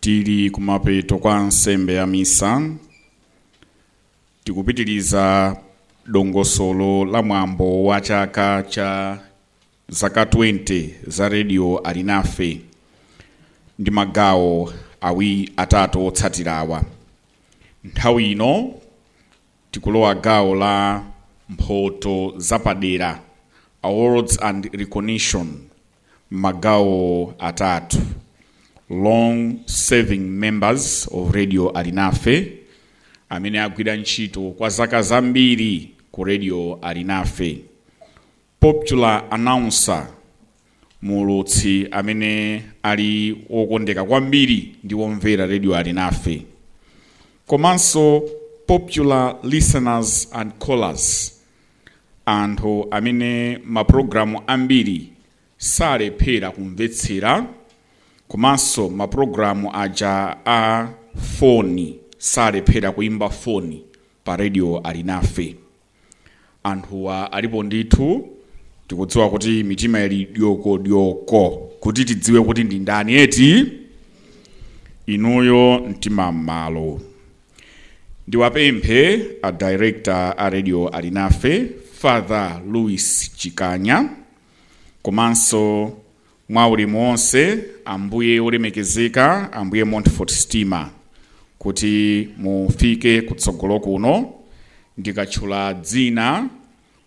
Tili kumapeto kwa nsembe ya Misa, tikupitiriza dongosolo la mwambo wa chaka cha zaka 20 za Radio Alinafe ndi magawo awi atatu otsatirawa. Nthawi ino tikulowa gawo la mphoto zapadera, awards and recognition m'magawo atatu long serving members of radio alinafe amene agwira ntchito kwa zaka zambiri ku radio alinafe popular announcer muulutsi amene ali wokondeka kwambiri ndi womvera radio alinafe komanso popular listeners and callers anthu amene mapulogalamu ambiri salephera kumvetsera komanso mapulogalamu aja a foni salephera kuimba foni pa radio alinafe anthuwa alipo ndithu tikudziwa kuti mitima ili dyokodyoko kuti tidziwe kuti ndi ndani eti inuyo mtima m'malo Ndiwapemphe a Director a Radio Alinafe, Father Louis Chikanya, komanso mwa ulemu wonse Ambuye olemekezeka, Ambuye Montfort Stima, kuti mufike kutsogolo kuno ndikatchula dzina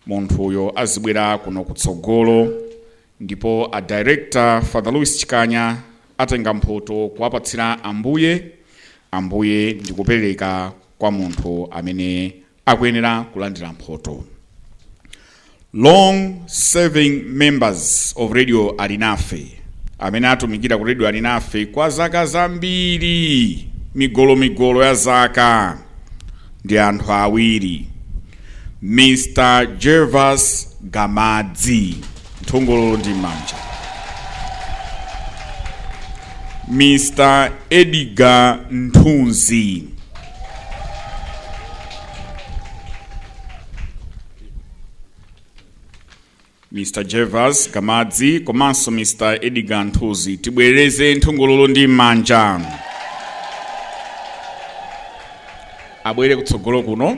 munthuyo azibwera kuno kutsogolo ndipo a director father louis chikanya atenga mphoto kuwapatsira ambuye ambuye ndikupereka kwa munthu amene akuyenera kulandira mphoto long serving members of radio alinafe amene atumikira ku radio alinafe kwa zaka zambiri migolomigolo ya zaka ndi anthu awiri Mr. Gervas Kamadzi, nthungululu ndi manja. Mr. Edgar Nthuzi. Mr Gervas Kamadzi komanso Mr Edgar Nthuzi tibwereze nthungululu ndi manja abwere kutsogolo kuno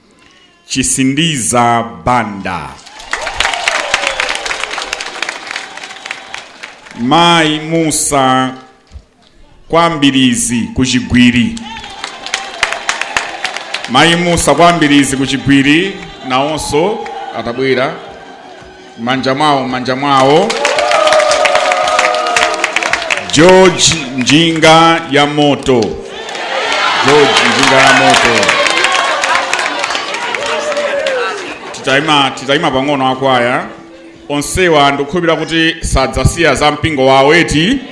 Chisindiza Banda. Mai Musa kwa Mbilizi ku Chigwiri. Mai Musa kwa Mbilizi ku Chigwiri nawonso atabwera. m'manja mwawo m'manja mwawo george njinga ya moto george njinga ya moto titayima titayima pang'ono akwaya onsewa ndikukhulupirira kuti sadzasiya za mpingo wawo eti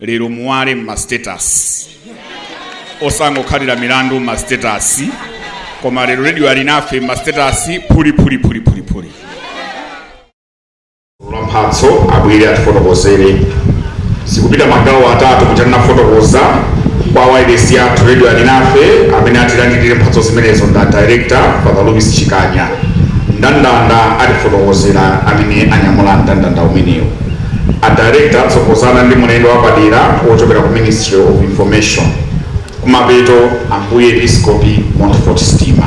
lero muwale mma status osangokhalira milandu mma status koma lero radio alinafe mma status phuli phuli phuli phuli phuli wa mphatso abwere atifotokozere zikupita magawo atatu kuti tinafotokoza kwa wailesi yathu radio alinafe amene atilandilire mphatso zimenezo nda director father louis chikanya ndandanda atifotokozera amene anyamula mndandanda umenewo A Director atsogozana ndi mulendo wapadera wochokera ku Ministry of Information. Kumapeto, Ambuye Episkopi Montfort Stima.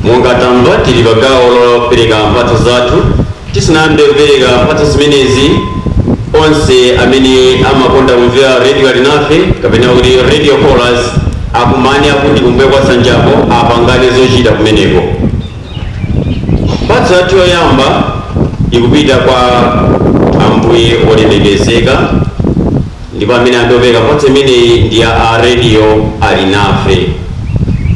Monga tamva, tili pa gawo lopereka mphatso zathu. Tisanayambe kupereka mphatso zimenezi, onse amene amakonda kumvera Radio Alinafe kapena kuti Radio Callers akumane akuti kumbuyo kwa nsanjapo apangane zochita kumeneko. Mphatso yathu yoyamba ikupita kwa Ambuye olemekezeka. Ndipo amene ayambe kupereka mphatso imeneyi ndi ya a radio Alinafe.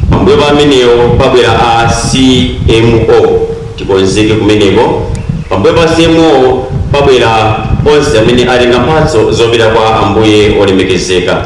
Pambuyo pa amenewo pabwera a CMO tikonzeke kumeneko. Pambuyo pa CMO pabwera onse amene atenga mphatso zopita kwa Ambuye olemekezeka.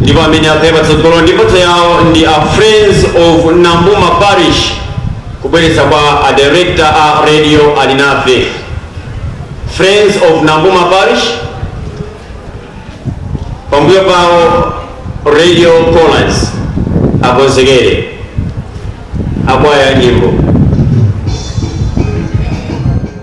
ndipo amene akhale patsogolo ndi mphatso yawo ndi a friends of nambuma parish kubweretsa kwa a director a radio alinafe friends of nambuma parish pambuyo pawo radio callers akonzekere akwaya nyimbo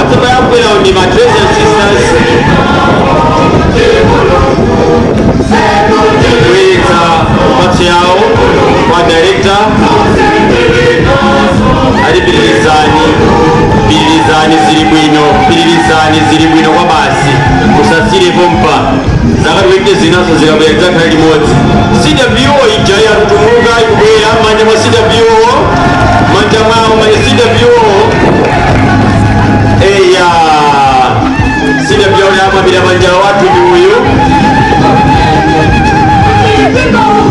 atsomayabwerawo ndi ma teresian sisters kubweretsa mphatso yawo kwa director ali pitirizani pitirizani zili bwino pitirizani zili bwino kwabasi musasiyire pompa zaka 20 zinazo zikabwera zakhala limodzi cwo ija yatutumuka ikubwera m'manja mwa cwo manja mwawo manja cwo eya cwo yawombera manja wathu ndi uyu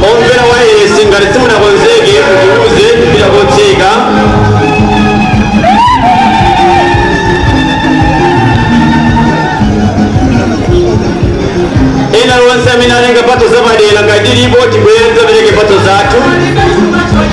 omvera wayesi ngati simunakonzeke mutiuze tipita kotseka ena lonse amene atenga mphatso zapadera ngati lilipo tibwere tidzapereke mphatso zathu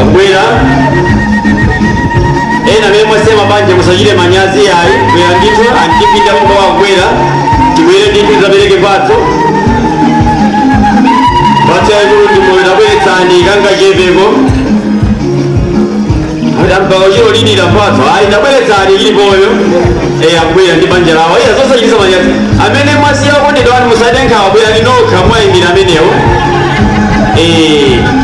akubwera ena amene mwasiya banja musachite manyazi ayi bwera ndithu antipita muko akubwera tibwere ndithu tizapereke mphatso mphatso yaikulu ndi moyo tabweretsani kangachepeko mpaka chiro lidira mphatso ayi tabweretsani ili moyo eyi akubwera ndi banja lawo iya zosachititsa manyazi amene mwasiya okondedwa wanu musade nkhawa bwera ndinokha mwayimira amenewo Eh,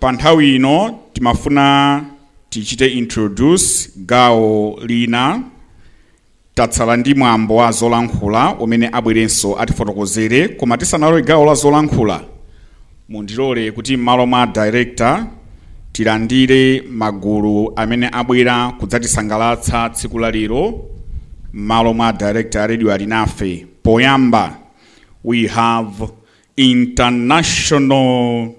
Pa nthawi ino timafuna tichite introduce gawo lina. Tatsala ndi mwambo wa zolankhula umene abwerenso atifotokozere koma tisanalowe gawo la zolankhula mundilole kuti m'malo mwa director tilandire magulu amene abwera kudzatisangalatsa tsiku la lero m'malo mwa director a Radio Alinafe. Poyamba we have International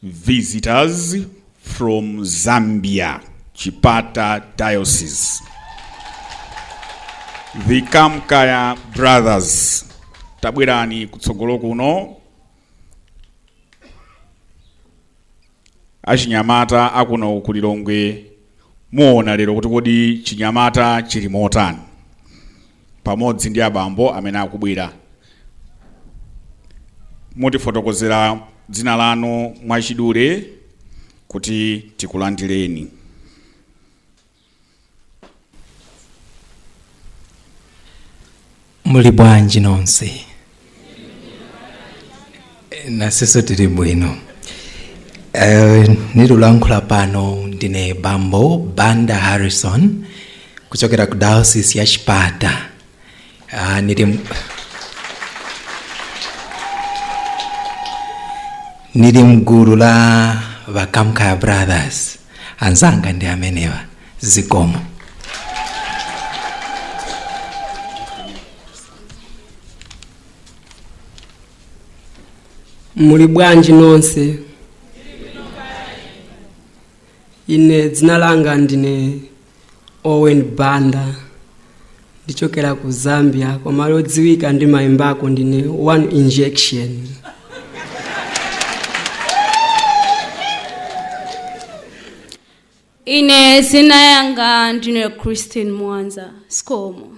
visitors from Zambia, Chipata Diocese. The Kamkaya Brothers. Tabwerani kutsogolo kuno. Achinyamata akuno ku Lilongwe muona lero kuti kodi chinyamata chili motani. pamodzi ndi abambo amene akubwera mutifotokozera dzina lanu mwachidule kuti tikulandireni muli bwanji nonse naseso tili bwino Eh, nilulankhula pano ndine bambo banda harrison kuchokera ku diocese ya chipata Ah, nili nili mgulu la vakamkaya brothers anzanga ndi amenewa zikomo muli bwanji nonse ine dzina langa ndine owen banda ndichokela ku zambia koma lodziwika ndi mayimbako ndine one injection ine zina yanga ndine christine mwanza zikomo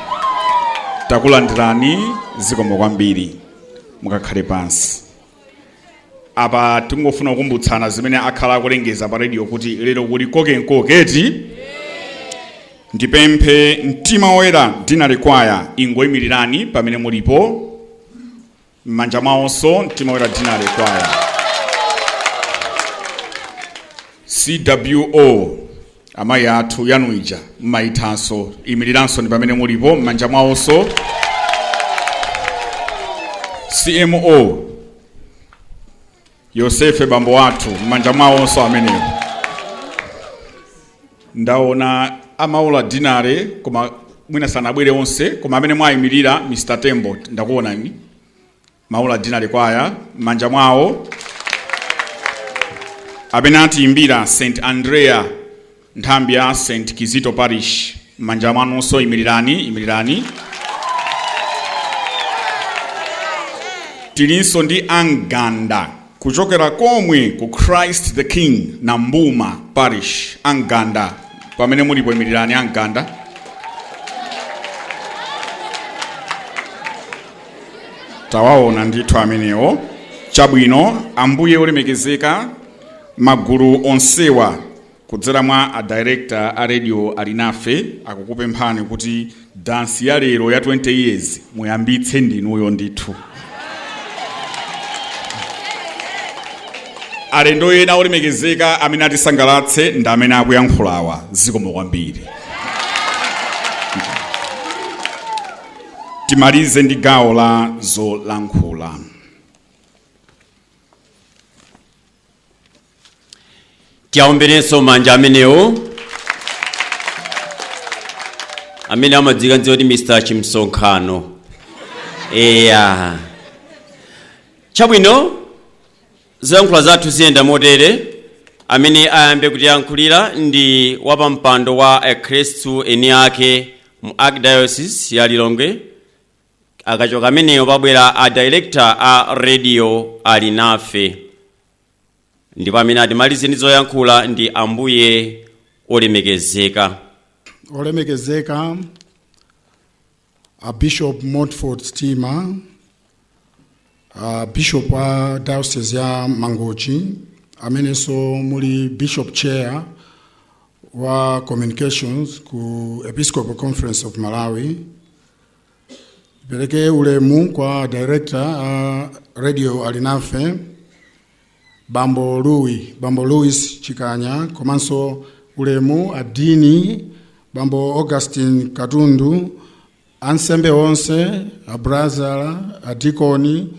takulandirani zikomo kwambiri mukakhale pansi apa tingofuna kukumbutsana zimene akhala akulengeza pa radio kuti lero kuli koke m'koke ndipemphe mtima woyera dinale kwaya ingoyimirirani pamene mulipo mmanja mwawonso mtima woyera dinale kwaya cwo amayi athu yanu ija mmayithanso imiriranso ndi pamene mulipo mmanja mwawonso cmo Yosefe bambo athu m'manja mwawonso amenewo ndaona a Maula dinare koma mwina sanabwere onse koma amene mwayimirira Mr Tembo ndakuonani Maula dinare kwaya m'manja mwawo amene atiyimbira St Andrea Nthambi ya St. Kizito Parish, m'manja mwanunso, imirirani, imirirani. Tilinso ndi a Mganda kuchokera komwe ku Christ the King na Mbuma Parish, a Mganda pamene mulipo, imirirani a Mganda. Tawaona ndithu amenewo. Chabwino, Ambuye olemekezeka, magulu onsewa Kudzera mwa a Director a Radio Alinafe akukupemphani kuti dansi ya lero ya 20 years muyambitse ndinuyo ndithu. Alendo ena olemekezeka amene atisangalatse ndi amene akuyankhulawa zikomo kwambiri. Timalize ndi gawo la zolankhula. tiaomberenso manja amenewo amene amadziwika kuti mr chimsonkhano eya chabwino zolankhula zathu ziyenda motere amene ayambe kutiyankhulira ndi wapampando wa akhristu eni ake mu archdiocese ya lilongwe akachoka ameneyo pabwera a director a radio Alinafe ndipo amene atimalize ndi zoyankhula ndi ambuye olemekezeka olemekezeka a bishop montford stima a bishop wa diocese ya mangochi amenenso muli bishop chair wa communications ku episcopal conference of malawi Ndipereke ulemu kwa director a radio Alinafe Bambo, Bambo Louis Chikanya komanso ulemu adini Bambo Augustine Katundu ansembe onse abrazala adikoni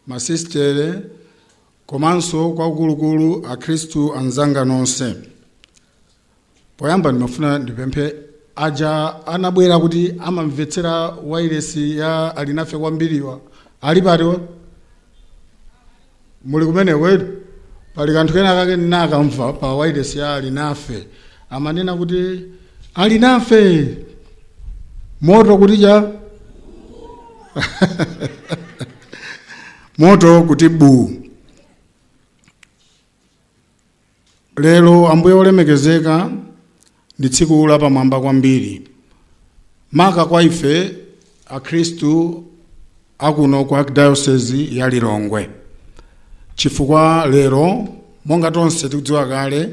masistere komanso akuluakulu akhristu anzanga nonse poyamba ndimafuna ndipemphe aja anabwera kuti amamvetsera wailesi ya alinafe kwambiriwa ali pati muli kumeneko eti pali kanthu kena kake ndinakamva pa wailesi ya alinafe amanena kuti alinafe moto kuti jaa moto kuti buu Lero, Ambuye Wolemekezeka, ndi tsiku lapamwamba kwambiri maka kwa ife Akhristu akuno ku Archdiocese ya Lilongwe, chifukwa lero monga tonse tikudziwa kale,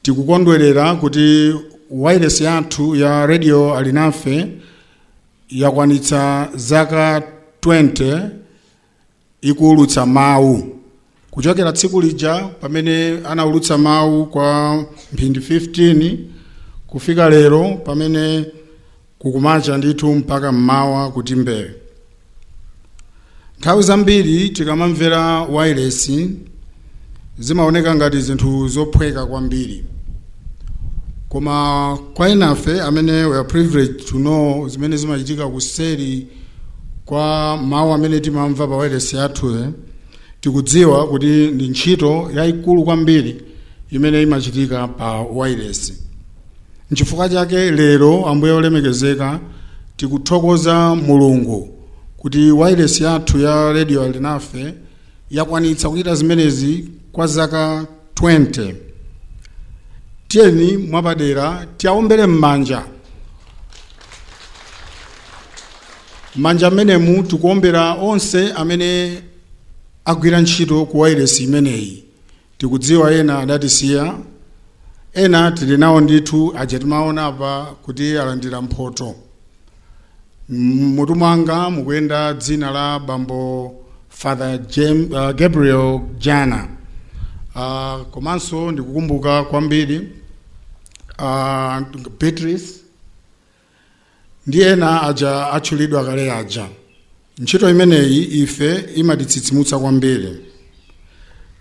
tikukondwerera kuti wailesi yathu ya Radio Alinafe yakwanitsa zaka 20 ikuulutsa mawu kuchokera tsiku lija pamene anaulutsa mawu kwa mphindi 15 kufika lero pamene kukumacha ndithu mpaka mmawa kuti mbee nthawi zambiri tikamamvera wailesi zimaoneka ngati zinthu zophweka kwambiri koma kwa enafe amene we are privileged to know zimene zimachitika kuseri kwa mawu amene timamva pa wailesi yathuyo tikudziwa kuti ndi ntchito yayikulu kwambiri imene imachitika pa wailesi nchifukwa chake lero ambuye olemekezeka tikuthokoza mulungu kuti wailesi yathu ya radio alinafe yakwanitsa kuchita zimenezi kwa zaka 20 tiyeni mwapadera tiwawombere m'manja m'manja amenemu tikuwombera onse amene agwira ntchito ku wailesi imeneyi Tikudziwa ena adatisiya, ena tili nawo ndithu, aja timaona apa kuti alandira mphoto. M'mutu mwanga mukuyenda dzina la bambo Father Jem, uh, Gabriel Jana. Uh, komanso ndikukumbuka kwambiri uh, Beatrice ndi ena aja atchulidwa kale aja ntchito imeneyi ife imatitsitsimutsa kwambiri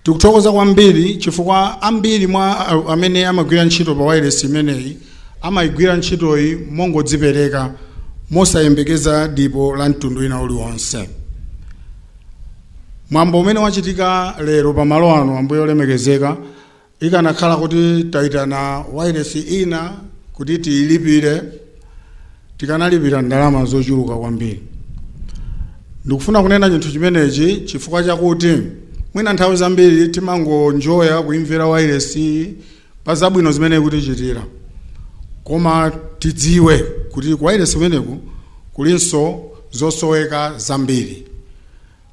tikuthokoza kwambiri chifukwa ambiri mwa a- amene amagwira ntchito pa wailesi imeneyi amayigwira ntchitoyi mongodzipereka mosayembekeza dipo la mtundu wina uliwonse mwambo umene wachitika lero pa malo ano ambuye olemekezeka Ikanakhala kuti taitana wailesi ina kuti tiilipire, tikanalipira ndalama zochuluka kwambiri. Ndikufuna kunena chinthu chimenechi chifukwa chakuti mwina nthawi zambiri timangoenjoya kuimvera wailesiyi pa zabwino zimene ikutichitira. Koma tidziwe kuti kuwailesi kumeneku kulinso zosoweka zambiri.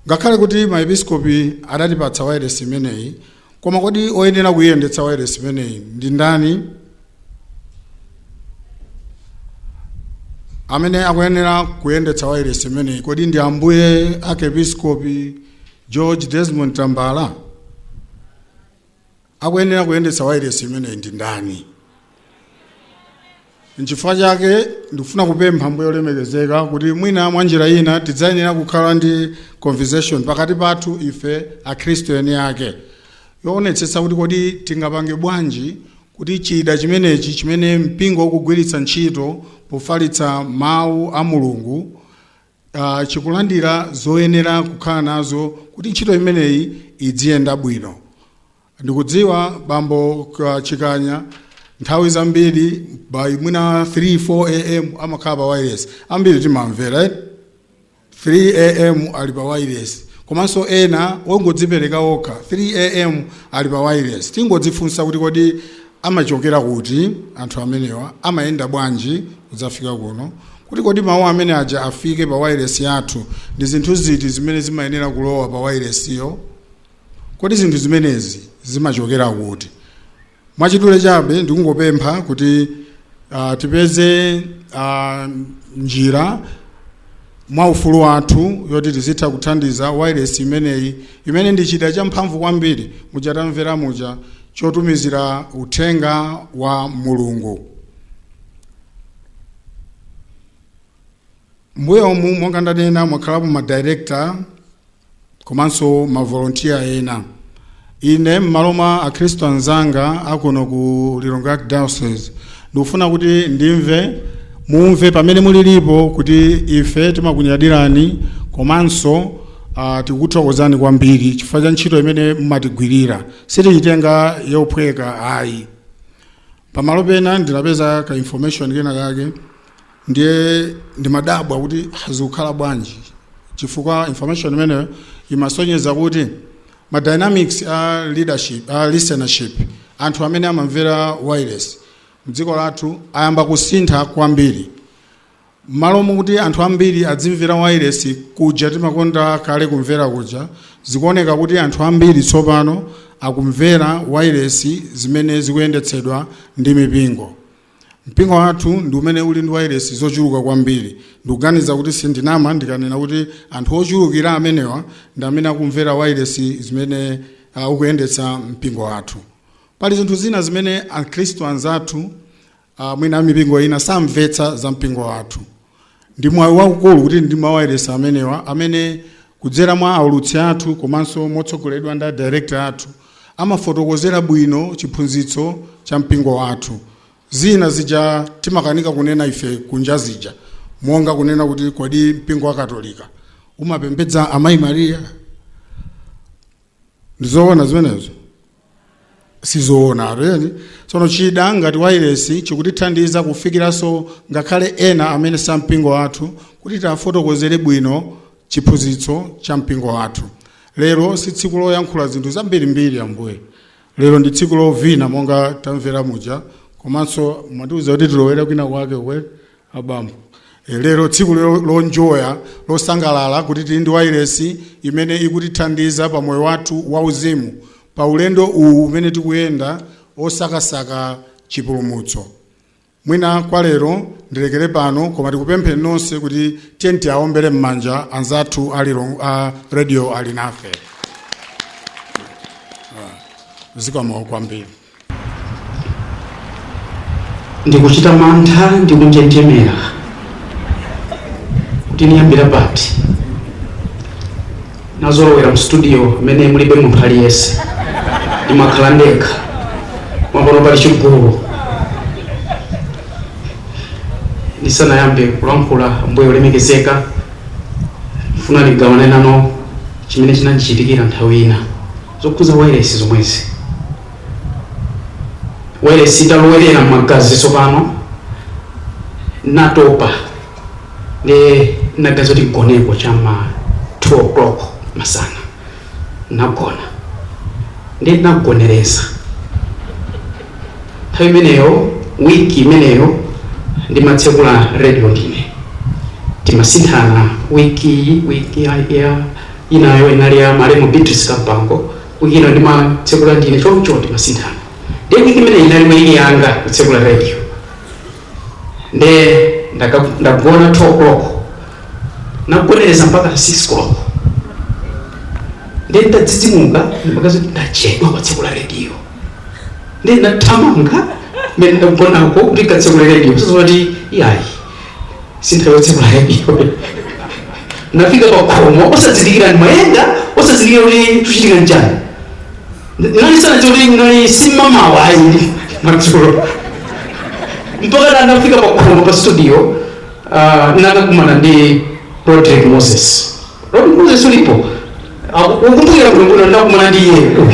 Ngakhale kuti maepiskopi adatipatsa wailesi imeneyi, Koma kodi oyenera kuyendetsa wailesi imeneyi ndi ndani? Amene akuyenera kuyendetsa wailesi imeneyi kodi ndi Ambuye Arkepiskopi George Desmond Tambala? Akuyenera kuyendetsa wailesi imeneyi ndi ndani? Nchifukwa chake ndikufuna kupempha Ambuye olemekezeka kuti mwina mwa njira ina tidzayenera kukhala ndi conversation pakati pathu ife akhristu eni ake yoonetsetsa kuti kodi tingapange bwanji kuti chida chimenechi chimene mpingo ukugwiritsa ntchito pofalitsa mawu a mulungu uh, chikulandira zoyenera kukhala nazo kuti ntchito imeneyi idziyenda bwino ndikudziwa bambo K- chikanya nthawi zambiri by mwina 3 4 am amakhala pa wailesi ambiri timamvera eh? 3 am ali pa wailesi komanso ena ongodzipereka okha 3 am ali pa wailesi tingodzifunsa kuti kodi amachokera kuti anthu amenewa amayenda bwanji kudzafika kuno kuti kodi mawu amene aja afike pa wailesi yathu ndi zinthu ziti zimene zimayenera kulowa pa wailesiyo Kodi zinthu zimenezi zimachokera kuti? Mwachidule chabe ndikungopempha kuti uh, tipeze uh, njira mwa ufulu wathu yoti tizitha kuthandiza wailesi imeneyi imene ndi chida champhamvu kwambiri muja tamvera muja chotumizira uthenga wa mulungu mbuyomu monga ndanena mwakhalapo madirekta komanso mavolontiya ena ine m'malo mwa akhristu anzanga akuno ku lilongwe archdiocese ndikufuna kuti ndimve mumve pamene mulilipo kuti ife timakunyadirani komanso uh, tikuthokozani kwambiri chifukwa cha ntchito imene mumatigwirira sitiyitenga yophweka ayi pamalo pena ndinapeza ka information kena kake ndiye ndimadabwa kuti "Ah, zikukhala bwanji chifukwa information imeneyo imasonyeza kuti ma dynamics a leadership a listenership anthu amene amamvera wailesi mdziko lathu ayamba kusintha kwambiri mmalo mokuti anthu ambiri adzimvera wailesi kuja timakonda kale kumvera kuja zikuoneka kuti anthu ambiri tsopano akumvera wailesi zimene zikuyendetsedwa ndi mipingo Mpingo wathu ndi umene uli ndi wailesi zochuluka kwambiri. Ndikuganiza kuti sindinama ndikanena kuti anthu ochulukira amenewa ndi amene akumvera wailesi zimene uh, ukuyendetsa mpingo wathu. Pali zinthu zina zimene Akhristu anzathu uh, mwina amipingo ina samvetsa za mpingo wathu. Ndi mwayi waukulu kuti ndi mawayilesi amenewa amene kudzera mwa aulutsi athu komanso motsogoledwa ndi a director athu amafotokozera bwino chiphunzitso cha mpingo wathu. Zina zija timakanika kunena ife kunja zija monga kunena kuti kodi mpingo wa Katolika umapembedza Amayi Maria? Ndi zoona zimenezo? sizoona tiyeni tsono chida ngati wailesi chikutithandiza kufikiranso ngakhale ena amene sa mpingo wathu kuti tiwafotokozere bwino chiphunzitso cha mpingo wathu lero si tsiku loyankhula zinthu zambirimbiri ambuye lero ndi tsiku lovina monga tamvera muja komanso mwatiuza kuti tilowera kwina kwake uko abambo E, lero tsiku lo- lonjoya losangalala kuti tili ndi wailesi imene ikutithandiza pa moyo wathu wauzimu pa ulendo uwu umene tikuyenda osakasaka chipulumutso mwina kwa lero ndilekere pano koma tikupempheni nonse kuti tiyeni tiawombere m'manja anzathu a Lilongwe- a Radio Alinafe Ah, zikomo kwambiri Ndikuchita mantha ndi kunjenjemera kuti niyambira pati. Nazolowera mu studio mmene mulibe munthu aliyense, ndimakhala ndekha, koma pano pali chigulu. Ndisanayambe kulankhula, Ambuye olemekezeka, ndifuna ndigawane nanu chimene chinandichitikira nthawi ina. zokhudza wailesi zomwezi. Wailesi italowerera m'magazi tsopano natopa nde naganiza kuti ndigoneko cha ma 2 o'clock masana nagona nde nagonereza nthawi imeneyo wiki imeneyo ndimatsekula radio ndine timasinthana wiki ya Inayo inali ya malemu Beatrice Kampango, week ina ndimatsekula ndine choncho timasinthana. Ndiye week imeneyi inali week yanga kutsekula radio. Ndiye ndaka- ndagona 2 o'clock nagonereza mpaka 6 o'clock ndiye ndadzidzimuka ndimaganiza kuti ndachedwa kukatsekula radio ndiye ndathamanga mene ndagonako kuti ndikatsekule radio zosezoti iyayi sinthawi yotsekula radio nafika pakhomo osazindikira ndimayenda osazindikira kuti chikuchitika nchani nali masana choti ayi si m'mamawa ayi madzulo mpaka nafika pakhomo pa studio uh, nakakumana ndi Rodrick Moses Rodrick Moses ulipo Ah, ukumbukira kulungulo ndakumana ndi iye uyu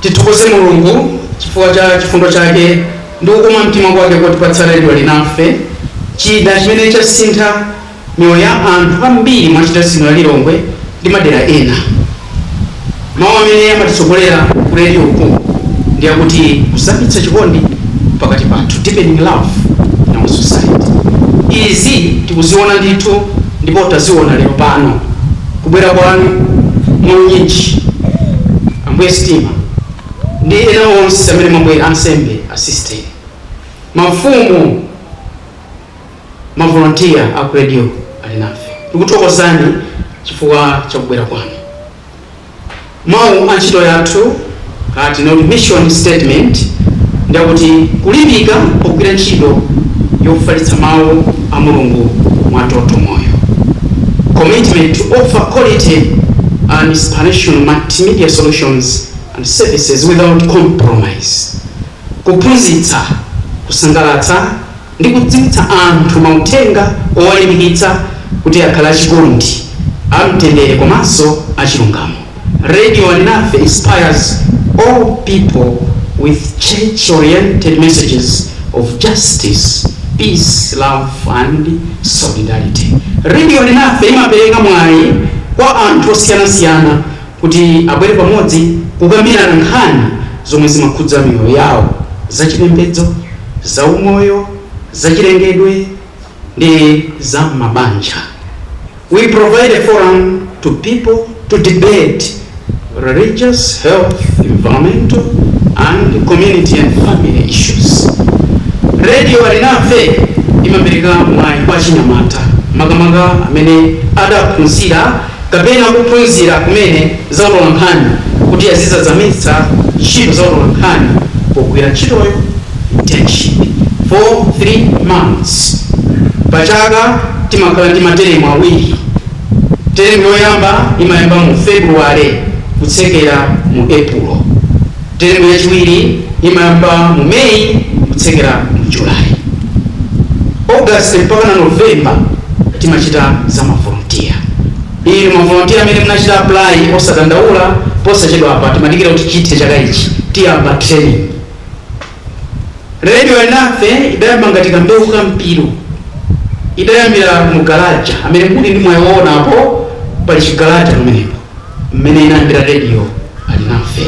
Tithokoze Mulungu chifukwa cha chifundo chake ndi kukoma mtima kwake kotipatsa radio Alinafe, chida chimene chasintha miyoyo ya anthu ambiri mu Archdiocese ino ya Lilongwe ndi madera ena. Mawu amene amatitsogolera ku redioku ndi akuti kuzamitsa chikondi pakati pathu, deepening love in our society. Izi tikuziona ndithu ndipo taziona lero pano. kubwera kwanu mwa unyinji, Ambuye Stima ndi ena onse amene mwabwera, ansembe, asisiteri, mafumu, mavolontiya a ku radio Alinafe. Tikuthokozani chifukwa cha kubwera kwanu. Mau a ntchito yathu, kaya tinene kuti mission statement, ndi akuti kulimbika pogwira ntchito yofalitsa mau a Mulungu mwa totomoyo, Commitment to offer quality and inspirational multimedia solutions and services without compromise, Kuphunzitsa, kusangalatsa, ndi kudziwitsa anthu mauthenga owalimbikitsa kuti akhale achikondi, amtendere komanso achilungamo. Radio Alinafe inspires all people with church oriented messages of justice, peace, love and solidarity. Radio Alinafe imapereka mwayi kwa anthu osiyanasiyana kuti abwere pamodzi kukambirana nkhani zomwe zimakhudza miyoyo yawo, zachipembedzo, zaumoyo, zachilengedwe ndi za mabanja We provide a forum to people to debate religious, health, environmental and community and family issues Radio Alinafe imapereka mwayi kwa achinyamata makamaka amene adaphunzira kapena kuphunzira kumene za utolankhani kuti azidzazamitsa ntchito za utolankhani pogwira ntchitoyo, internship, for 3 months Pa chaka timakhala ndi materemu awiri. Teremu yoyamba imayamba mu February kutsekera mu Epulo. Teremu yachiwiri imayamba mu May kutsekera mu July. August mpaka na November timachita za ma volunteer. Inu ma volunteer amene munachita apply osadandaula posachedwapa timadikira kuti chithe chaka ichi tiyamba training. Radio Alinafe idayamba ngati ka mbewu ka mpiru. Idayambira mu Galaja, amene muli ndi mwayi owona apo pali chi Galaja pamenepo. mmene inayambira radio alinafe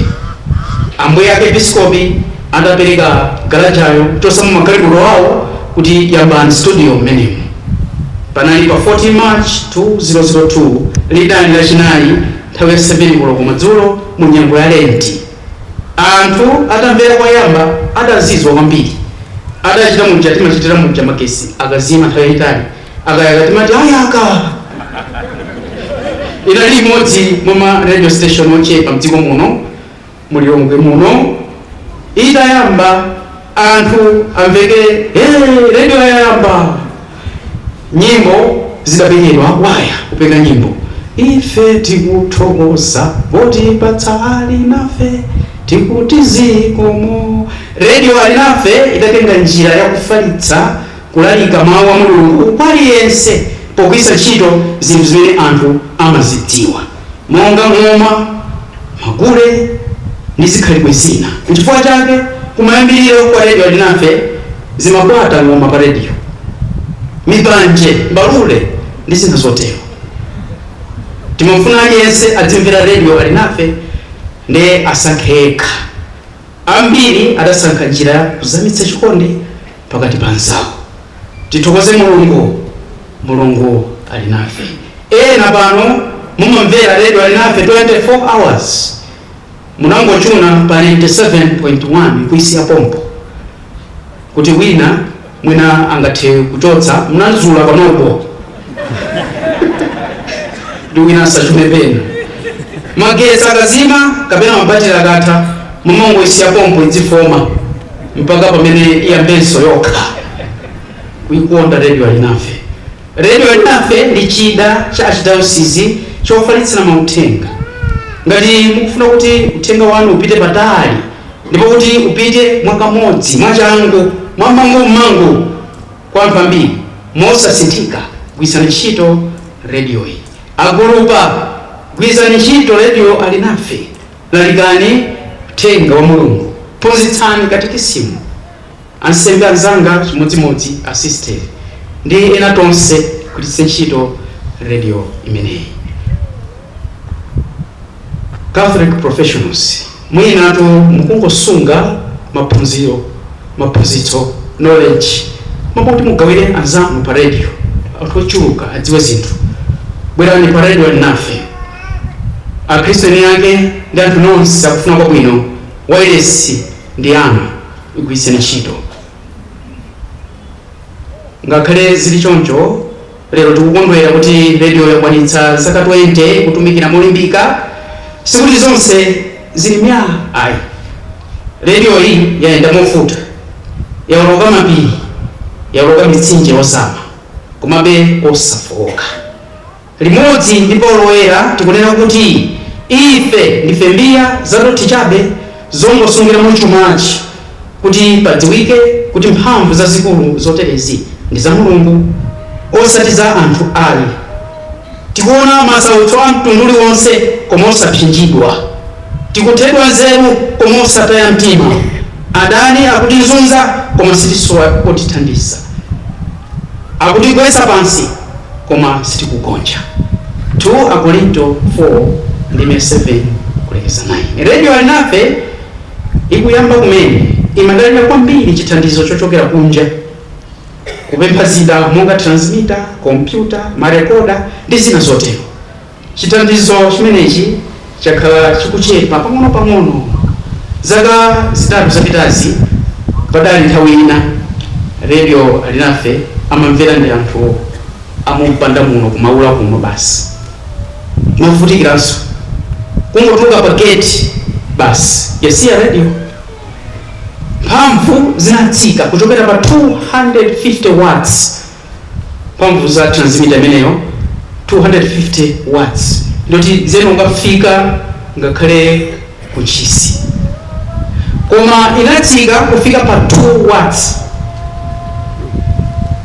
ambuye arkiepiskopi adapereka galajayo kuchosamo magalimoto awo kuti yambani studio mmenemo panali pa 14 march 2002 lidali lachinayi nthawi ya 7 koloko madzulo mu nyengo ya lenti anthu atamvera koyamba adazizwa kwambiri adachita muja timachitira muja magesi akazima nthawi yayitali akayaka timati ayaka! Inali imodzi mwa ma radio station ochepa mdziko muno mu Lilongwe muno. Itayamba anthu amveke hey, radio yayamba! Nyimbo zidapekedwa akwaya kupeka nyimbo ife tikuthokoza potipatsa alinafe tikuti zikomo. Radio alinafe idatenga njira yakufalitsa Kulalika Mau a Mulungu kwa aliyense pogwiritsa ntchito zinthu zimene anthu amazidziwa monga ng'oma, magule ndi zikhalidwe zina. Nchifukwa chake kumayambiriro kwa Radio Alinafe zimabwata ng'oma pa radio, mipanje, mbalule ndi zina zotero. Timafuna aliyense azimvera Radio Alinafe ndiye asankhe yekha. Ambiri adasankha njira ya kuzamitsa chikondi pakati pa anzawo tithokoze mulungu mulungu ali nafe ena pano mumamvera redio alinafe 24 hours munangochuna pa 97.1 kuisiya pompo kuti wina mwina angathe kuchotsa munazula panopo ndi wina asachune pena magetsi akazima kapena mabatiri akatha mumangoisiya pompo idzifoma mpaka pamene iyambenso yokha kuikonda redio alinafe redio alinafe ndi chida cha archdiocese chofalitsira mauthenga ngati mukufuna kuti uthenga wanu upite patali ndipo kuti upite mwakamodzi mwachangu mwamangummangu Kwa anthu ambiri, mosasinthika gwiritsani ntchito rediyoyi. Agulupa, Gwiritsani ntchito rediyo Alinafe, Lalikani uthenga wa Mulungu, Phunzitsani katikisimu, Ansembe anzanga chimodzimodzi Asisteri ndi ena tonse tigwiritse ntchito rediyo imeneyi. Catholic professionals mwinatu mukungosunga maphunziro, maphunzitso, knowledge mwa kuti mugawire anzanu pa radio anthu ochuluka adziwe zinthu. Bwerani pa radio Alinafe. Akhristu eni ake ndi anthu nonse akufuna kwabwino wailesi ndi yanu igwiritseni ntchito. Ngakhale zili choncho. Lero tikukondwera kuti radio yakwanitsa zaka 20 ikutumikira molimbika. Sikuti zonse zili myaa ayi. Radioyi yayenda movuta, yaoloka mapiri, yaoloka mitsinje yozama, komabe osafooka. Limodzi ndi Paul Woyera tikunena kuti, Ife ndife mbiya zadothi chabe. zongosungiramo chumachi kuti padziwike kuti mphamvu zazikulu zoterezi ndi za Mulungu osati za anthu ai. Tikuona masautso a mtundu uliwonse koma osapsinjidwa, tikuthedwa nzeru koma osataya mtima, adani akutizunza koma sitisowa otithandiza. Akutigwetsa pansi, koma sitikugonja, 2 Akorinto 4 ndime 7 kulekeza 9. Radio Alinafe ikuyamba kumene imadalira kwambiri chithandizo chochokera kunja, kupempha zida monga transmitter, kompyuta, marekoda, ndi zina zotero. Chithandizo chimenechi chakhala chikuchepa pang'onopang'ono. Zaka zitatu zapitazi, padali nthawi ina Radio Alinafe amamvera ndi anthu a mu mpanda muno ku Maula kuno basi. Movutikiranso. Kungotuluka pa gate basi yasiya radio. Mphamvu zinatsika kuchokera pa 250 watts. mphamvu za transmitter imeneyo 250 watts ndiyoti zimangokafika ngakhale ku Ntchisi koma inatsika kufika pa 2 watts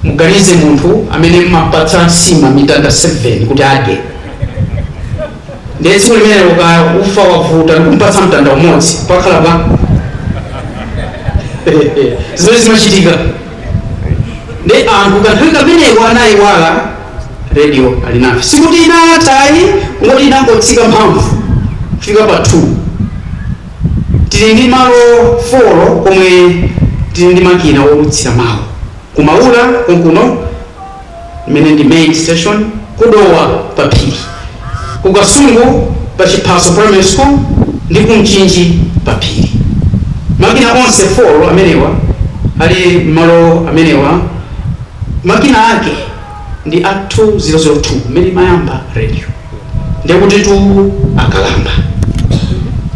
muganize munthu amene mmampatsa nsima mitanda 7 kuti adye ndiye tsiku limenelo ufa wavuta ndikumpatsa mtanda umodzi pakhala pa zimene zimachitika nde anthu kanthawi kameneko anayiwala radio alinafe sikuti inatha ayi kungoti inangotsika mphamvu kufika pa 2 tili ndi malo 4 komwe tili ndi makina oulutsira mawu ku Maula konkuno imene ndi main station, ku Dowa pa Phiri, ku Kasungu pa Chiphaso Primary School ndi ku Mchinji pa Phiri. Makina onse 4 amenewa ali m'malo amenewa makina ake ndi a 2002 m'mene imayamba radio ndiye kutitu akalamba.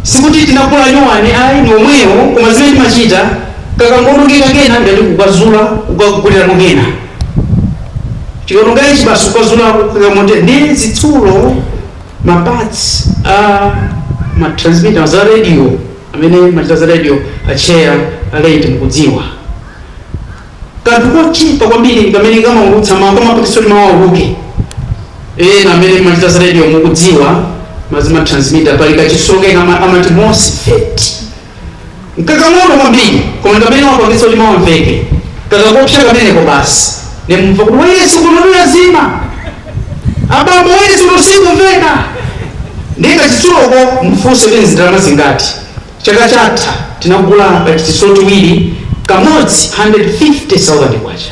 Sikuti tinagula nyuwani ayi, ndi omwewo koma zimene timachita kakangoonongeka kena ndiye kuti kukazula kukagulirako kena. Chikaonongeka ichi basi kukazula kukaika moti ndi zitsulo ma parts a ma transmitter za radio amene machita za radio a chair a laity mukudziwa kanthu kochipa kwambiri ndikamene kamaulutsa mawu kamapangitsa kuti mawu auluke ena amene machita za radio mukudziwa mazima transmitter pali kachitsulo kake amati MOSFET nkakang'ono kwambiri koma ndi kamene kamapangitsa kuti mawu amveke kakangopsa kameneko basi nde mumva kuti wailesi kuno yazima abambo wailesi kuno sikumveka ndiye kachitsuloko mufunse kuti ndalama zingati chaka chatha tinagula kachitsulo tiwiri kamodzi 150,000 kwacha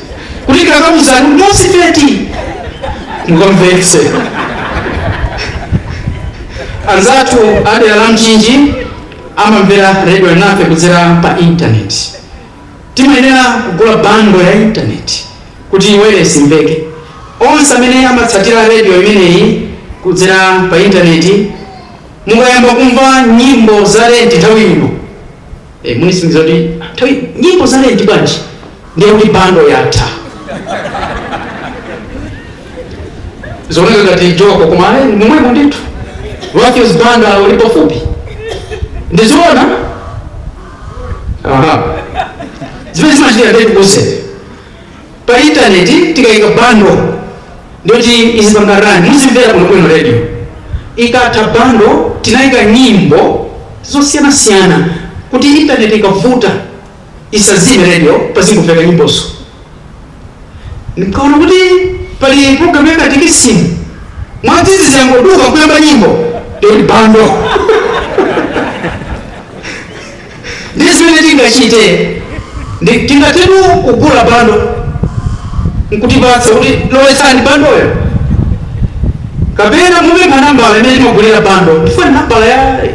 kuti ndikakakuuzani kuti MOSFET mukamvetse anzathu a dera la Mchinji amamvera redio alinafe kudzera pa intaneti timayenera kugula bando ya intaneti kuti wailesi imveke onse amene amatsatira redio imeneyi kudzera pa intaneti mukayamba kumva nyimbo za lenti nthawi ino ee mulisingiza kuti nthawi nyimbo za lenti bwanji ndiye kuti bando yatha zioneka ngati joko koma ayi momwemo ndithu Matthews Banda uli pafupi ndi zoona aha zimene zimachitika ndeti kuze pa internet tikaika bundle ndiyoti izipanga run muzimvera bwinobwino radio ikatha bundle tinaika nyimbo zosiyanasiyana kuti internet ikavuta isazime radio pazingomveka nyimbozo nikaona kuti pali program yakatikisimu mwadzizi yangoduka kuyamba nyimbo ndiyoti bundle Ndi zimene tingachite tingathetu kugula bando nkutipatsa kuti lowetsani bandoyo, kapena mupempha nambala imene timagulira bando tifuna nambala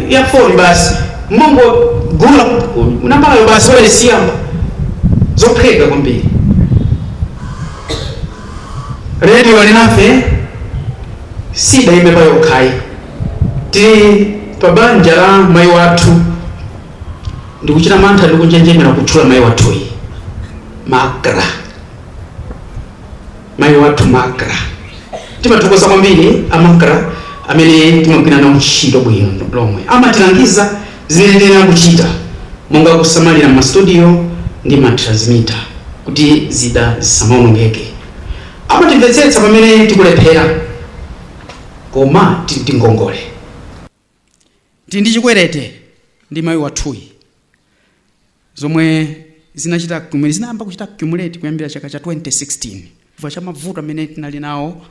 ya foni basi mungogula nambalayo basi wailesi yayamba zophweka kwambiri redio alinafe sidaime payokhayi Tili pa banja la mai wathu, ndikuchita mantha ndi kunjenjemera kutchula mai wathuyi. Macra. Mai wathu Macra. Timathokoza kwambiri a Macra amene timagwira nawo ntchito bwino lomwe. Amatilangiza zimene tiyenera kuchita monga kusamalira m'ma studio ndi ma transmitter kuti zida zisamaonongeke. Amatimvetsetsa pamene tikulephera. koma tili ndi ngongole. Tili ndi chikwerete ndi mayi wathuyi zomwe zinachita accumulate, zinayamba kuchita accumulate kuyambira chaka cha 2016 chifukwa cha mavuto amene tinali nawo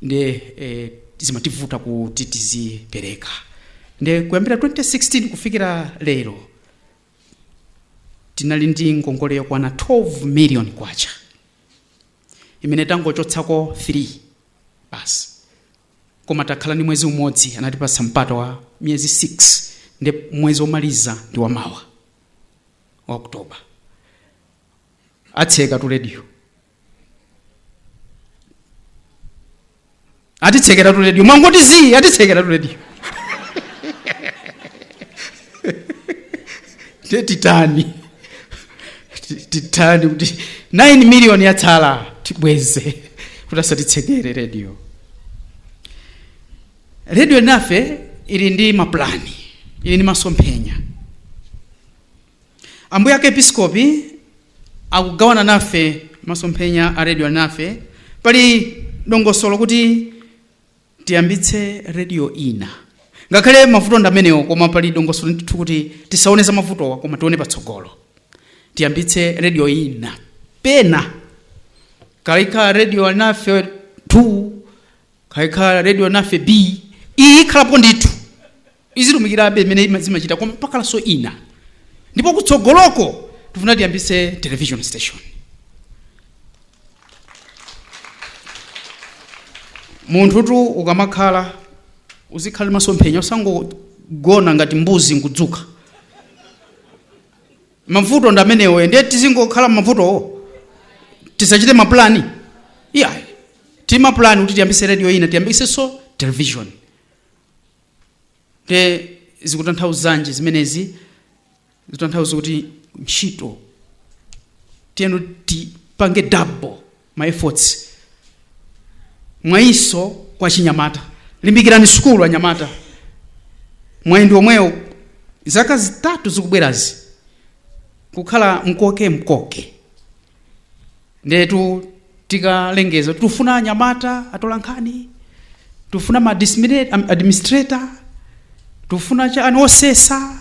nde eh, zimativuta kuti tizipereka nde kuyambira 2016 kufikira lero tinali ndi ngongole yokwana 12 million kwacha imene tangochotsako 3 basi koma takhala ndi mwezi umodzi anatipatsa mpata wa miyezi 6 ndi mwezi womaliza ndi wamawa wa oktoba atsekatu rediyo atitsekeratu rediyo mwangoti zii atitsekeratu rediyo nde titani titani kuti 9 million yatsala tibweze kuti asatitsekere rediyo rediyo Alinafe ili ndi mapulani ili ndi masomphenya Ambuye Arkepiskopi akugawana nafe masomphenya a Radio Alinafe. Pali dongosolo kuti tiyambitse radio ina, ngakhale mavuto ndi amenewo, koma pali dongosolo ndithu kuti tisaone za mavutowa, koma tione patsogolo, tiyambitse radio ina pena kaya ikhala radio alinafe 2 kaya ikhala radio alinafe b iyi ikhalapo ndithu izitumikirabe imene zimachita koma pakhalanso ina ndipo kutsogoloko tifuna tiyambise television station munthutu ukamakhala uzikhala ndi masomphenya usangogona ngati mbuzi nkudzuka mavuto ndi amenewo ndiye tizingokhala mavutowo tisachite mapulani iyayi tili ndi mapulani kuti tiyambise radio ina tiyambisenso television nde zikutanthauzanji zimenezi zikutanthauza kuti ntchito tiyeni tipange double ma efforts mwayinso kwa chinyamata limbikirani sukulu anyamata mwayi ndi omwewo zaka zitatu zikubwerazi kukhala mkoke mkoke ndetu tikalengeza kuti tufuna anyamata atola nkhani tufuna ma administrator tufuna chani osesa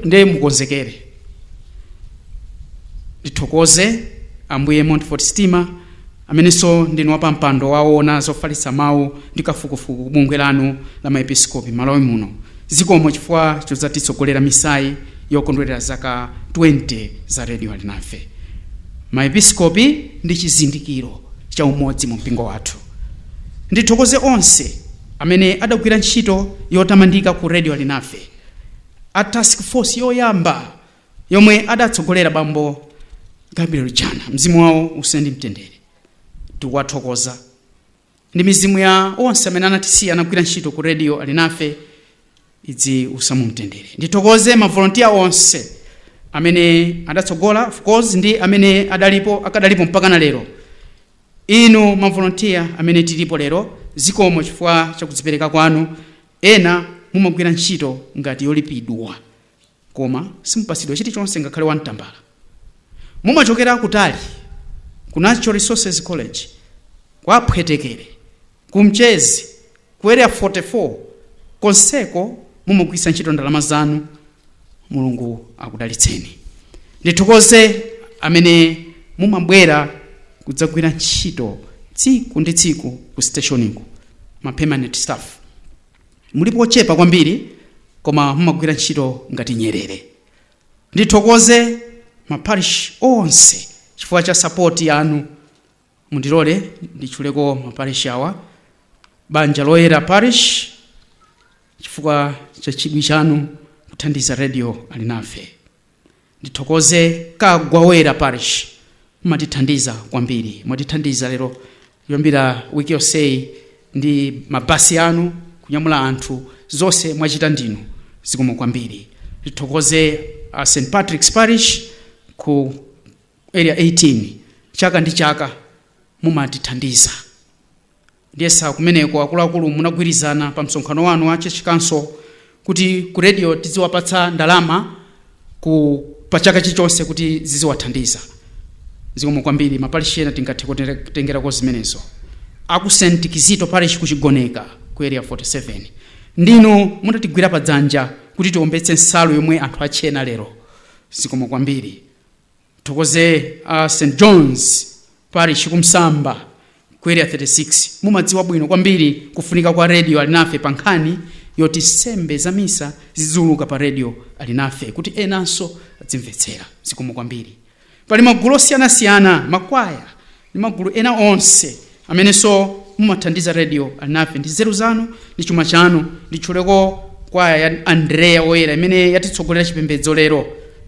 ndiye mukonzekere ndithokoze ambuye montfort stima amenenso ndinu wapampando waona zofalitsa mawu ndi kafukufuku kubungwe lanu la maepiskopi malawi muno Zikomo chifukwa chodzatitsogolera misayi yokondwerera zaka 20 za Radio Alinafe. Ma Episkopi ndi chizindikiro cha umodzi mu mpingo wathu. Ndithokoze onse amene adagwira ntchito yotamandika ku Radio Alinafe. A Task Force yoyamba yomwe adatsogolera Bambo Gabriel Jana, mzimu wawo uuse ndi mtendere. Tikuwathokoza. ndi mizimu ya onse amene anatisiya anagwira ntchito ku radio alinafe idziusa mumtendere ndithokoze mavolontiya onse amene adatsogola of course ndi amene adalipo akadalipo mpaka na lero inu mavolontiya amene tilipo lero zikomo chifukwa chakudzipereka kwanu ena mumagwira ntchito ngati yolipidwa koma simupatsidwa chilichonse ngakhale wamtambala mumachokera kutali ku natural resources college kwa aphwetekere ku mchezi ku area 44 konseko mumagwiritsa ntchito ndalama zanu mulungu akudalitseni ndithokoze amene mumabwera kudzagwira ntchito tsiku ndi tsiku ku stationiku ma permanent staff Mulipo ochepa kwambiri koma mumagwira ntchito ngati nyerere. Ndithokoze ma parish onse chifukwa cha support yanu. Mundilole nditchuleko ma parish awa, Banja Loyera Parish chifukwa cha chidwi chanu kuthandiza Radio Alinafe. Ndithokoze Kagwawera Parish mumatithandiza kwambiri. Mwatithandiza lero kuyambira week yonseyi ndi ma bus anu kunyamula anthu zonse mwachita ndinu zikomo kwambiri. Ndithokoze a St Patrick's Parish ku area 18 chaka ndi chaka mumatithandiza. Ndiyesa kumeneko akuluakulu munagwirizana pa msonkhano wanu wa church council kuti ku radio tidziwapatsa ndalama pa chaka chilichonse kuti ziziwathandiza. Zikomo kwambiri maparish ena tingathe kutengerako zimenezo. Aku St Kizito parish ku Chigoneka ku area 47 ndinu munatigwira pa dzanja kuti tiombetse nsalu yomwe anthu atchena lero. Zikomo kwambiri. thokoze a st johns parish kumsamba ku area 36 mumadziwa bwino kwambiri kufunika kwa redio alinafe pa nkhani yoti sembe za misa zidziwuluka pa redio alinafe kuti enanso adzimvetsera zikomo kwambiri pali magulu osiyanasiyana makwaya ndi magulu ena onse amenenso mumathandiza radio alinafe ndi nzeru zanu ndi chuma chanu nditchuleko kwaya ya Andrea oyera imene yatitsogolera chipembedzo lero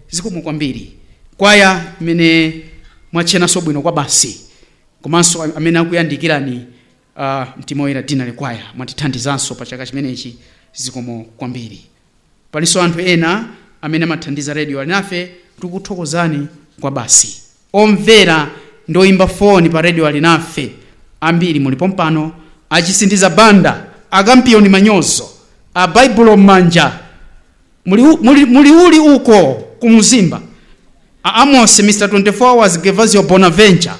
zikomo kwambiri kwaya imene mwatchenanso bwino kwa basi komanso amene akuyandikirani uh, mtima oyera dinali kwaya mwatithandizanso pa chaka chimenechi zikomo kwambiri Palinso anthu ena amene amathandiza Radio Alinafe, tikuthokozani kwabasi. Omvera ndi oyimba foni pa Radio Alinafe ambiri muli pompano, a Chisindiza Banda, a Kampiyoni Manyozo, a Baibulo M'manja, muli, u- muli, muli uli uko ku Mzimba, a Amos, Mr 24 Hours, Gervasio Bonaventure,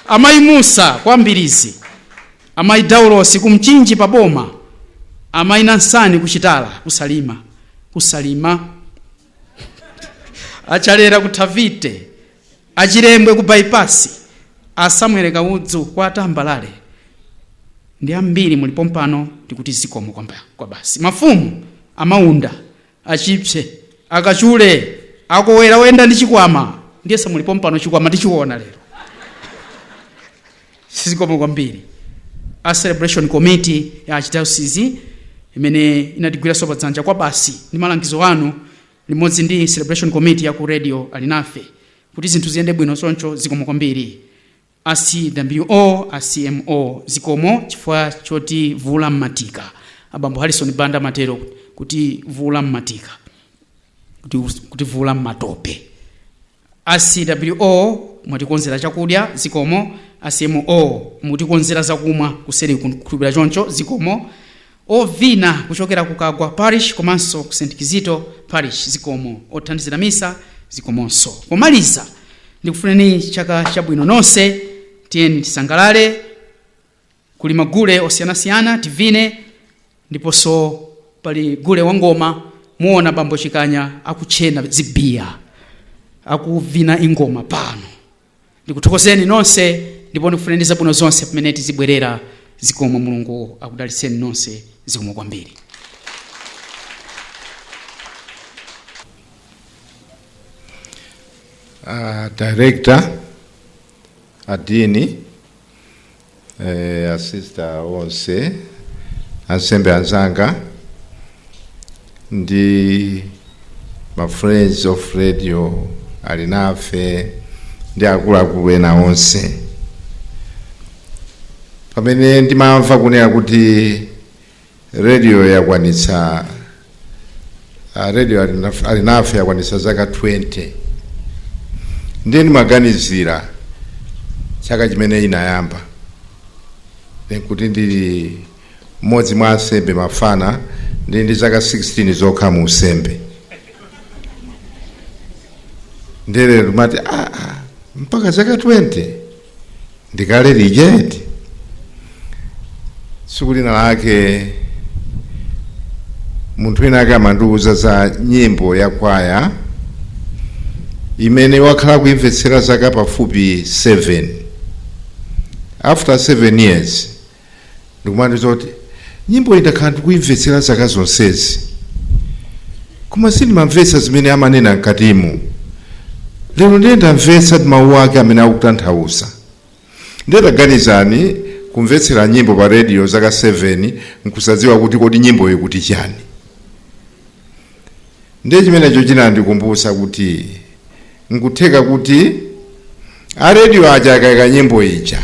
Amayi Musa kwa Mbirizi, amayi Daulosi ku Mchinji pa Boma, amayi Nansani ku Chitala ku Salima, ku Salima. a Chalera ku Thavite, a Chilembwe ku Bypass, a Samuel Kaudzu kwa Tambalale ndi ambiri muli pompano tikuti zikomo kwamba- kwabasi. Mafumu a Maunda achipse akachule akowera oyenda ndi chikwama ndiye samuli pompano chikwama tichiona lero zikomo kwambiri a celebration committee ya archdiocese imene inatigwiranso padzanja kwa basi ndi malangizo anu limodzi ndi celebration committee ya ku radio alinafe kuti zinthu ziyende bwino choncho zikomo kwambiri A CWO, a CMO zikomo chifukwa choti vula mmatika. A bambo Harrison Banda amatero kuti vula mmatika, kuti, kuti vula mmatope. A CWO mwatikonzera chakudya zikomo. A CMO mutikonzera zakumwa kuseri kukhulupira choncho zikomo. Ovina kuchokera ku Kagwa Parish komanso ku St. Kizito Parish zikomo. Othandizira misa zikomonso. Pomaliza ndikufunireni chaka chabwino nonse. Tiyeni tisangalale kuli magule osiyanasiyana tivine ndiponso pali gule wa ngoma muona bambo Chikanya akutchena zibiya akuvina ingoma pano ndikuthokozeni nonse ndipo ndikufunireni zabwino zonse pamene tizibwerera zikomo mulungu akudalitseni nonse zikomo kwambiri uh, director adini eh, asista onse ansembe anzanga ndi ma friends of Radio Alinafe ndi akuluakulu ena onse pamene ndimamva kunena kuti rediyo yakwanitsa ah, rediyo Alinaf- Alinafe yakwanitsa zaka 20 ndiye ndimaganizira chaka chimene inayamba Then kuti ndili mmodzi mwa ansembe mafana ndili ndi zaka 16 zokha mu usembe ndiye ndimati ah, ah, mpaka zaka 20 ndikale lije eti tsiku lina lake munthu wina ake amandiwuza za nyimbo ya kwaya imene wakhala kuimvetsera zaka pafupi 7 after 7 years ndikumandiuza kuti nyimbo iyi ndakhala ndikuimvetsera zaka zonsezi koma sindimamvetsa zimene amanena mkatimu lero ndiye ndamvetsa mawu ake amene akutanthauza ndiye taganizani kumvetsera nyimbo pa rediyo zaka 7 nkusadziwa kuti kodi nyimboyi ikuti chani ndiye chimenecho chinandikumbutsa kuti Nkutheka kuti a radio aja akaika nyimbo ija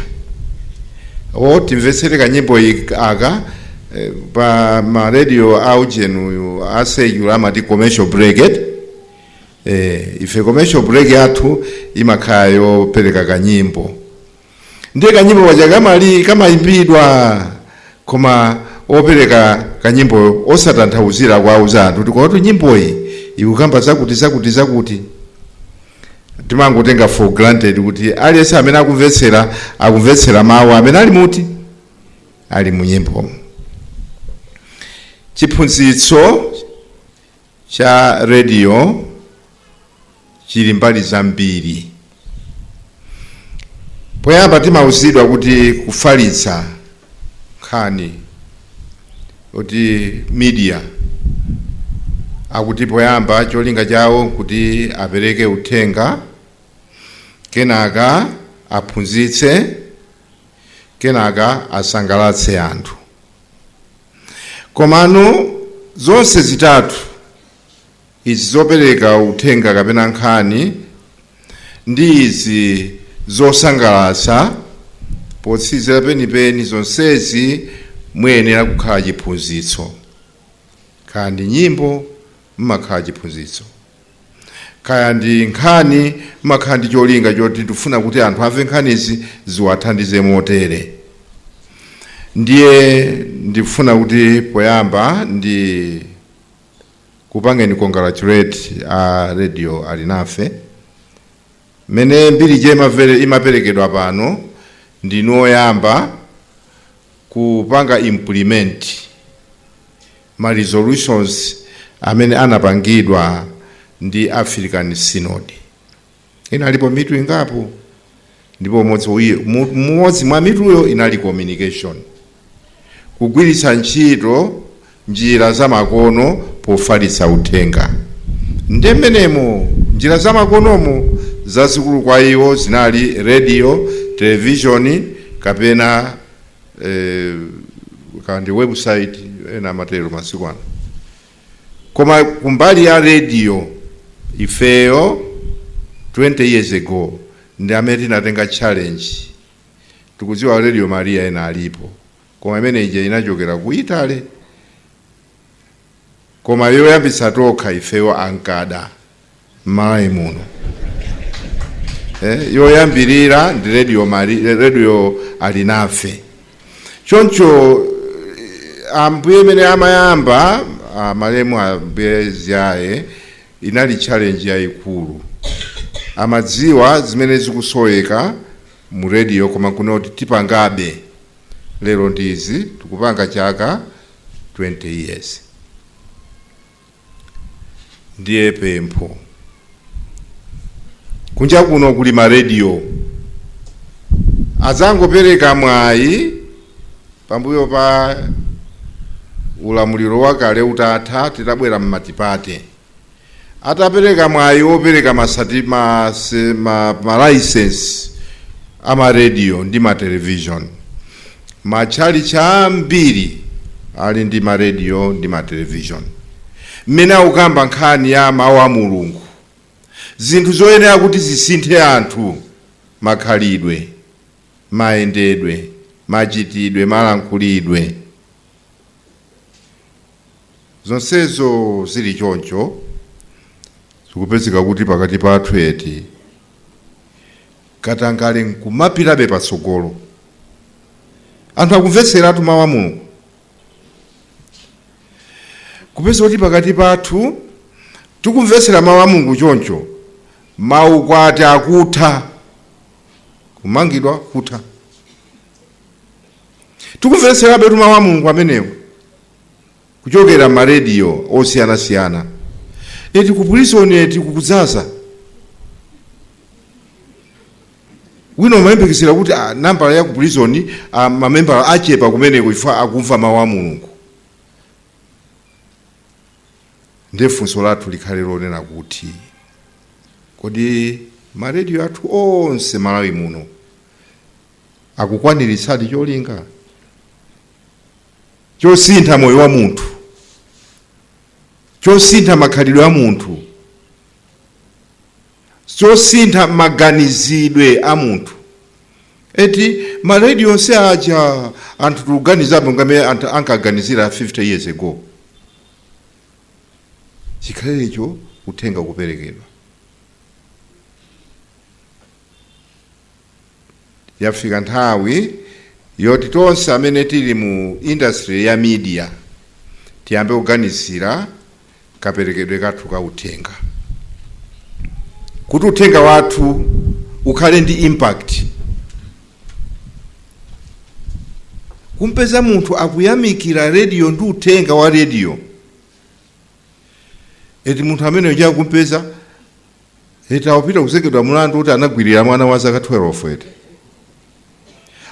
o timvetsere kanyimbo ik- aka eh, pa ma radio a ujeni uyu a secular amati commercial break eti eh, ife commercial break yathu imakhala yopereka kanyimbo ndiye kanyimbo kaja kamayi- kamayimbidwa koma opereka kanyimbo osatanthauzira kuwauza anthu kuti kwakuti nyimboyi ikukamba zakuti zakuti zakuti timangotenga for granted kuti aliyense amene akumvetsera akumvetsera mawu amene ali muti ali mu nyimbomo chiphunzitso cha rediyo chili mbali zambiri. Poyamba timauzidwa kuti kufalitsa nkhani kuti media akuti poyamba cholinga chawo kuti apereke uthenga, kenaka aphunzitse, kenaka asangalatse anthu. Komano zonse zitatu izi zopereka uthenga kapena nkhani ndi izi zosangalatsa potsizira penipeni zonsezi muyenera kukhala chiphunzitso kaya ndi nyimbo mmakhala chiphunzitso kaya ndi nkhani mmakhala ndi cholinga choti ndifuna kuti anthu amve nkhanizi ziwathandize motere ndiye ndifuna kuti poyamba ndi kupangeni congratulate a radio Alinafe. Mene mbiri ija imavere- imaperekedwa pano ndinu oyamba kupanga implement ma resolutions amene anapangidwa ndi African Synod. Inalipo mitu ingapo ndipo umodzi uyi- mu- umodzi mwa mituyo inali communication, kugwiritsa ntchito njira zamakono pofalitsa uthenga. Ndi mmenemo njira zamakonomo zazikulu kwa iwo zinali radio, television kapena eh, kandi website ena amatero masiku ano. koma kumbali ya radio ifeyo 20 years ago ndi amene tinatenga challenge tikudziwa radio maria ena alipo koma imene ija inachokera ku italy koma yoyambitsa tokha ifeyo akhala m'Malawi muno eh, yoyambirira ndi radio, Mari- radio alinafe choncho eh, ambuye mmene amayamba ah, malemu ambuye Ziyaye inali challenge yayikulu amadziwa zimene zikusoweka mu radio koma kunoti tipangabe lero ndizi tikupanga chaka 20 years ndiye pempho kunja kuno kuli marediyo atangopereka mwayi pambuyo pa ulamuliro wakale utatha titabwera m'matipate atapereka mwayi wopereka ma, se- ma, ma license a marediyo ndi ma television Matchalitchi ambiri ali ndi maradio ndi matelevizioni mmene akukamba nkhani ya Mawu a Mulungu, zinthu zoyenera kuti zisinthe anthu, makhalidwe, mayendedwe, machitidwe, malankhulidwe. Zonsezo zili choncho, zikupezeka kuti pakati pathu eti? Katangale n'kumapitabe patsogolo. Anthu akumvetseratu mawu a Mulungu. Kupeza kuti pakati pathu tikumvetsera mawu a Mulungu choncho, maukwati akutha, kumangidwa kutha. tikumvetserabetu mawu a mulungu amenewo kuchokera marediyo osiyanasiyana eti kuprison eti kukudzaza wina umayembekezera kuti ah, nambala ya kuprison ah, mamembala achepa kumeneko chifukwa akumva mawu a mulungu ndiye funso lathu likhale lonena kuti kodi marediyo athu onse malawi muno akukwaniritsadi cholinga chosintha moyo wa munthu chosintha makhalidwe a munthu chosintha maganizidwe a munthu eti marediyo onse aja anthu tikuganizabe ngati mmene anthu ankaganizira 50 years ago chikhalirecho uthenga kuperekedwa yafika nthawi yoti tonse amene tili mu industry ya media tiyambe kuganizira kaperekedwe kathu ka uthenga kuti uthenga wathu ukhale ndi impact kumpeza munthu akuyamikira rediyo ndi uthenga wa rediyo eti munthu amene uja kumpeza eti akupita kuzengedwa mlandu kuti anagwirira mwana wa zaka 12 eti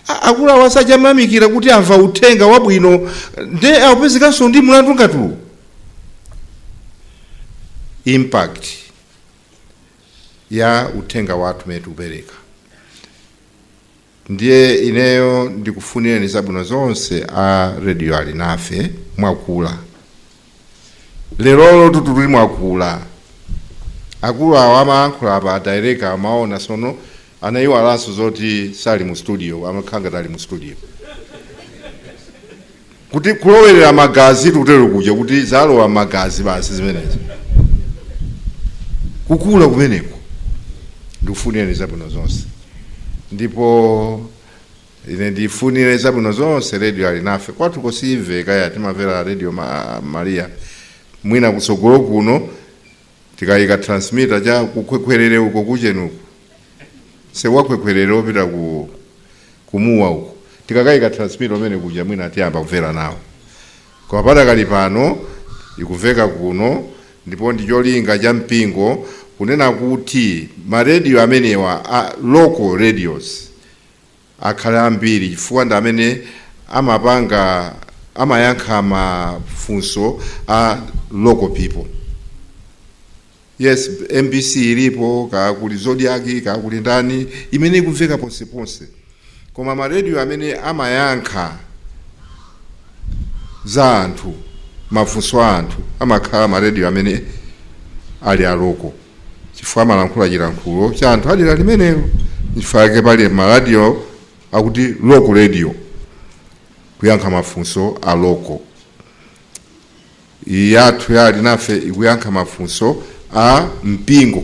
A- akulu awo aja amayamikira kuti amva uthenga wabwino nde akupezekanso ndi mlandu ngati uwu impact ya uthenga wathu umene tikupereka Ndiye ineyo ndikufunireni zabwino zonse a Radio Alinafe mwakula lerolo tutuli mwakula akulu awa amayankhula apa adireka amaona sono anaiwalanso zoti sali mu studio amakhala ngati ali mu studio Kuti kulowerera magazi tikutero kuja kuti zalowa m'magazi basi zimenezo. Kukula kumeneko ndikufunireni zabwino zonse, ndipo ine ndifunire zabwino zonse redio Alinafe kwathuko siimveka eya timamvera redio ma, Maria mwina kutsogolo kuno tikayika transmitter cha ku Khwekhwerere uko ku Ntcheu uko msewu wa Khwekhwerere opita ku Mua uko tikakayika transmitter mmene kuja mwina tiyamba kumvera nawo koma padakali pano ikumveka kuno ndipo ndi cholinga cha mpingo kunena kuti marediyo amenewa a local radios akhale ambiri chifukwa ndi amene amapanga amayankha mafunso a local people yes mbc ilipo kaya kuli Zodiak kaya kuli ndani imene ikumveka ponseponse koma maredio amene amayankha za anthu mafunso a anthu amakhala maredio amene ali a local chifukwa amalankhula chilankhulo cha anthu adera limenelo nchifukwa yake pali maradiyo akuti local radio kuyankha mafunso a local iyi yathu ya alinafe ikuyankha mafunso a mpingo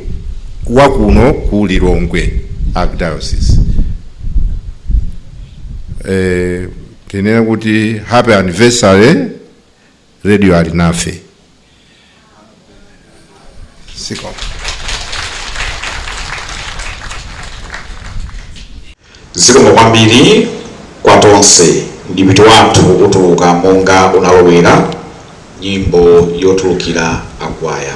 wa kuno ku lilongwe archdiocese eh, tinene kuti happy anniversary Radio Alinafe. Siko. zikomo kwambiri kwa tonse ndi m'dipiti wathu utuluka monga unalowera nyimbo yotulukira akwaya